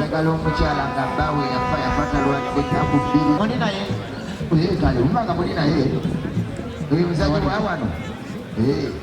yagala omukyala nga baawe yafa yafata lwadde taku bbiri muli naye kale umanga muli naye oyo muzanyi wa wano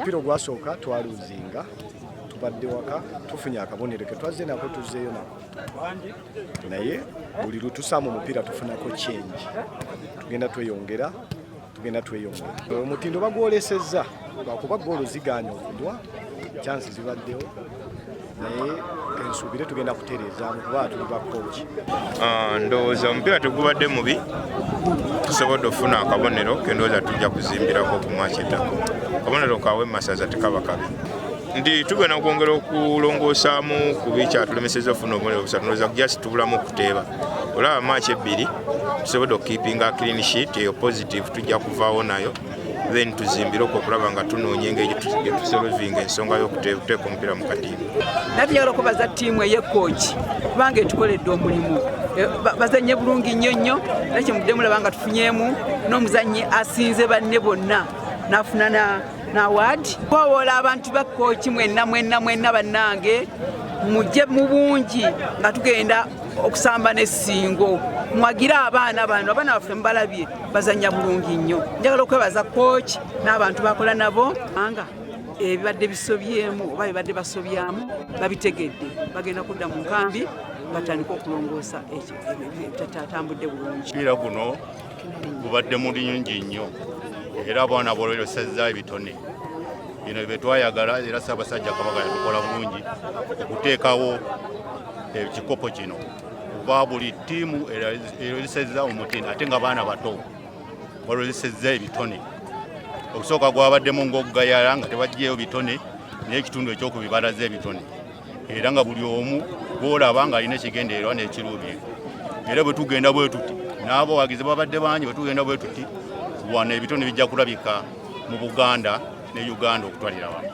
mpira ogwasooka twaluzinga tubadde waka tufunye akabonero ke twazze nako tuzzeeyo nako naye buli lutusaamu omupiira tufunako kyengi tugenda tweyongera tugenda tweyongera omutindo bagwolesezza lwakuba goolo zigaanya okudwa kyansi zibaddewo naye ensubire tugenda kutereeza kuba tuli bakoki ah, ndowooza omupiira tegubadde mubi tusobodde okufuna akabonero kendowooza tujja kuzimbirako ku mwaki ettako akabonero kawe masaza tekaba kabi nti tugenda kwongera okulongoosaamu ku bikyatulemeseza okufuna obubonero busatu ndowooza just tubulamu okuteeba olaba maaki ebbiri tusobodde okukipinga clean sheet eyo positive tujja kuvaawo nayo then tuzimbire okwo okulaba nga tunoonya engeri gyetusolovinga ensonga y'okuteeka omupiira mu kadiini nati njagala okubaza ttiimu eyekooki kubanga etukoledde omulimu e, bazannye bulungi nnyo nnyo era kyemuddemu laba nga tufunyemu n'omuzannyi asinze banne bonna n'afuna na waadi kowoola abantu ba kooki mwenna mwenna mwenna bannange mujje mu bungi nga tugenda okusamba n'essingo mwagire abaana bano abaana baffe mubalabye bazanya bulungi nnyo njagala okwebaza kooki n'abantu bakola nabo anga ebibadde bisobyemu oba bibadde basobyamu babitegedde bagenda kudda mu nkambi batandika okulongoosa tatambudde bulungi mupiira guno gubadde mulungi nnyo era abaana bolweyosezza ebitone bino byetwayagala era ssaabasajja kabaka yatukola bulungi okuteekawo ekikopo kino kuba buli ttiimu erozesezza omutindo ate nga baana bato balozesezza ebitone okusooka gwabaddemu ngaokugayala nga tebajjeyo bitone n'ekitundu ekyokubibalaza ebitone era nga buli omu gwolaba nga alina ekigendererwa n'ekiruubye era bwe tugenda bwe tuti n'abawagizi babadde bangi bwe tugenda bwe tuti wano ebitone bijja kulabika mu buganda ne uganda okutwalira wamu